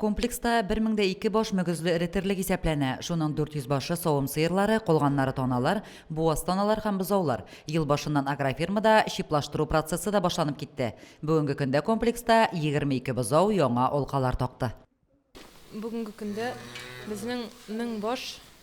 Комплекста 1002 баш мөгезле эретерлек исәпләнә, шуның 400 башы, савым сыерлары, калганнары таналар, буаз таналар һәм бозаулар. Ел башыннан агрофирмада чиплаштыру процессы да башланып китте. Бүгенге көндә комплекста 22 бозау яңа алкалар такты. Бүгенге көндә безнең 1000 баш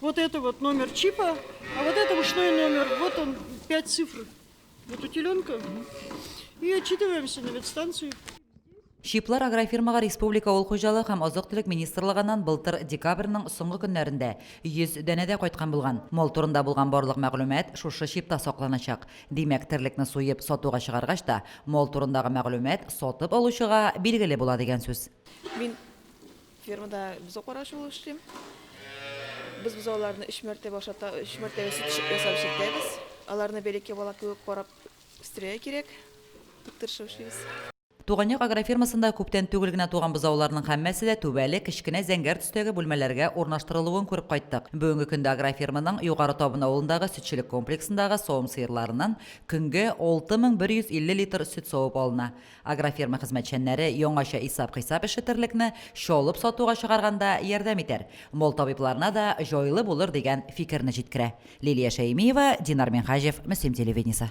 Вот это вот номер чипа, а вот это ушной номер. Вот он, пять цифр. Вот у теленка. И отчитываемся на ветстанцию. Шиплар агрофирмага республика ул хуҗалык һәм азык-төлек министрлыгыннан былтыр декабрьнең соңгы көннәрендә 100 дәнәдә кайткан булган. Мол турында булган барлык мәгълүмат шушы шипта сакланачак. Димәк, терлекне суеп сатуга чыгаргач та, мол турындагы мәгълүмат сатып алучыга билгеле була дигән сүз. Мин Фермада бозау караучы булып эшлим. Без бозауларны өч мәртәбә ашата, өч мәртәбә сөт ясап эшләтәбез. Аларны бәләкәй бала кебек карап үстерергә кирәк. Бик тырышып эшлибез. Туганъяк агрофермасында күптән түгел генә туган бозауларның һәммәсе дә түбәле, кечкенә зәңгәр төстәге бүлмәләргә урнаштырылуын күреп кайттык. Бүгенге көндә агроферманың Югары Табын авылындагы сөтчелек комплексындагы савым сыерларыннан көнгә 6150 литр сөт савып алына. Агрофирма хезмәтчәннәре яңача исап-хисап эше терлекне чалып сатуга чыгарганда ярдәм итәр, мал табибларына да җайлы булыр дигән фикерне җиткерә. Лилия Шәймиева, Динар Минһаҗев, Мөслим телевидениесе.